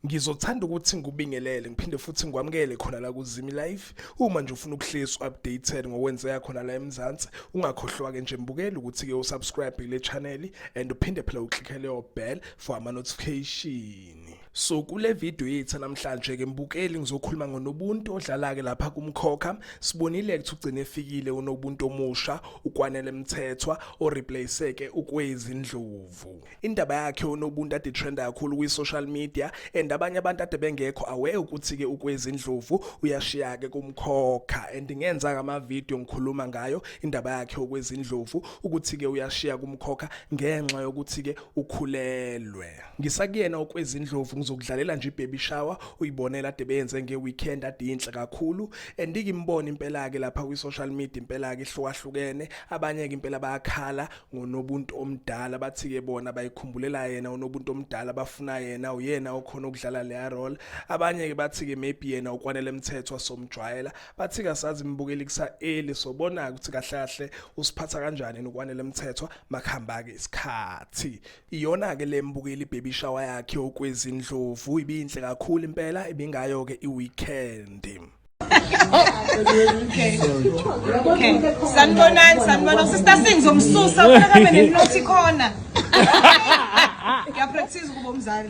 Ngizothanda ukuthi ngikubingelele ngiphinde futhi ngikwamukele khona la kuZimi Live. Uma nje ufuna ukuhlezi updated ngokwenzeka khona la eMzansi, ungakhohlwa ke nje mbukeli ukuthi ke usubscribe kule channel and uphinde phela uclickele your bell for ama notification. yini. So kule video yethu namhlanje ke mbukeli ngizokhuluma ngonobuntu odlala ke lapha kumkhokha sibonile ukuthi ugcine efikile unobuntu omusha ukwanele mthethwa o replace ke ukwezi ndlovu indaba yakhe unobuntu ade trend kakhulu kwi social media and abanye abantu ade bengekho aware ukuthi ke ukwezi ndlovu uyashiya ke kumkhokha and ngenza ngama video ngikhuluma ngayo indaba yakhe okwezi ndlovu ukuthi ke uyashiya kumkhokha ngenxa yokuthi ke ukhulelwe Ngisakuyena okwezindlovu ngizokudlalela nje ibaby shower uyibonela ade beyenze ngeweekend ade inhle kakhulu and ngimbona impela ke lapha kwi social media impela ke ihlukahlukene abanye ke impela bayakhala ngonobuntu omdala bathi ke bona bayikhumbulela yena unobuntu omdala bafuna yena uyena okhona ukudlala le role abanye ke bathi ke maybe yena ukwanele mthetho somjwayela bathi kasazi imbukeli kusa eli sobona ukuthi kahle kahle usiphatha kanjani ukwanele mthetho makuhamba ke isikhathi Iyona-ke le mbukeli baby shower yakhe okwezindlovu ibinhle kakhulu impela ibingayo-ke i-weekend sanibonani sanibona sister singizomsusa ufuna kabe neninothi khona ngiyapractise ukuba umzali